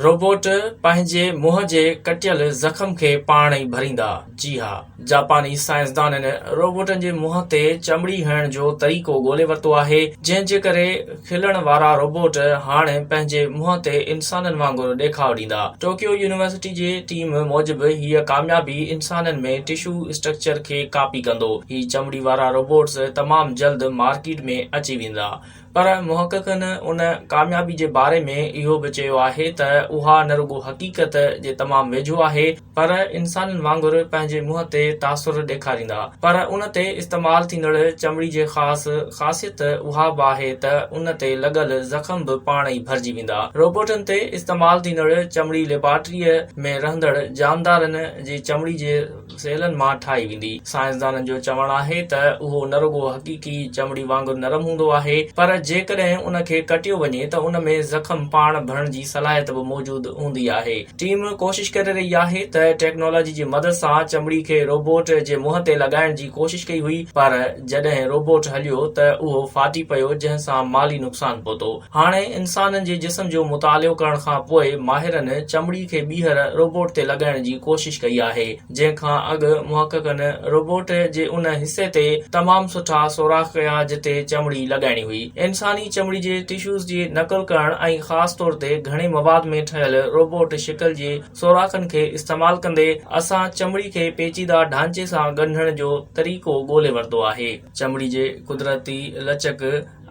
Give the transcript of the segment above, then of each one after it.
Robot پنهنجي منهن جي ڪٽيل زخم کي پاڻ ئي ڀريندا. جي ها. جاپاني سائنسدانن روبوٽن جي منهن تي چمڙي هڻڻ جو طريقو ڳولي ورتو آهي، جنهن جي ڪري کلڻ وارا روبوٽ هاڻي پنهنجي منهن تي انسانن وانگر ڏيکاء ڏيندا. ٽوڪيو يونيورسٽي جي ٽيم موجب هيء ڪاميابي انسانن ۾ ٽشو اسٽرڪچر کي ڪاپي ڪندو. هي چمڙي وارا روبوٽس تمام جلد مارڪيٽ ۾ اچي ويندا. پر محققن ان ڪاميابي جي باري ۾ اهو به چيو آهي ته اها نه رڳو حقيقت جي تمام ويجهو آهي پر انسانن وانگر پنهنجي منهن تي تاثر ڏيکاريندا پر ان تي استعمال ٿيندڙ چمڙي جي خاص خاصيت اها به آهي ته ان تي لڳل زخم به پاڻ ئي ڀرجي ويندا روبوٽن تي استعمال ٿيندڙ چمڙي ليبارٽريء ۾ رهندڙ جاندارن جي چمڙي جي سيلن مان ٺاهي ويندي. سائنسدانن جو چوڻ آهي ته اهو نه رڳو حقيقي چمڙي وانگر نرم هوندو آهي پر جيڪڏهن ان کي ڪٽيو وڃي ته ان ۾ زخم پاڻ ڀرڻ جي صلاحيت به موجود هوندي آهي. ٽيم ڪوشش ڪري رهي آهي ته ٽيڪنالاجي جي مدد سان چمڙي کي روبوٽ جي منهن تي لڳائڻ جي ڪوشش ڪئي هئي پر جڏهن روبوٽ هليو ته اهو ڦاٽي پيو جنهن سان مالي نقصان پهتو. هاڻي انسانن جي جسم جو مطالعو ڪرڻ کان پوء ماهرن چمڙي کي ٻيهر روبوٽ تي لڳائڻ جي ڪوشش ڪئي آهي، جنهن کان اڳ محققن روبوٽ جي ان حصي تي تمام سٺا سوراخ ڪيا جتي چمڙي لڳائڻي هئي. انساني چمڙي جي ٽشوز جي نقل ڪرڻ ۽ خاص طور تي گهڻي مواد ۾ ٺهيل روبوٽ شڪل جي سوراخن کي استعمال ڪندي اسان چمڙي کي پيچيده ڍانچي سان ڳنڍڻ جو طريقو ڳولي ورتو آهي. چمڙي جي قدرتي لچڪ،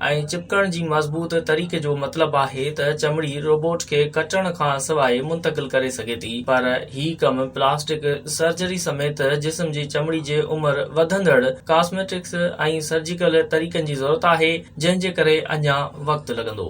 ۽ چپڪڻ جي مضبوط طريقي جو مطلب آهي ته چمڙي روبوٽ کي ڪٽڻ کان سواء منتقل ڪري سگهي ٿي پر هي ڪم پلاسٽڪ سرجري سميت جسم جي چمڙي جي عمر وڌندڙ ڪاسميٽڪس ۽ سرجيڪل طريقن جي ضرورت آهي جنهن جي ڪري اڃا وقت لڳندو.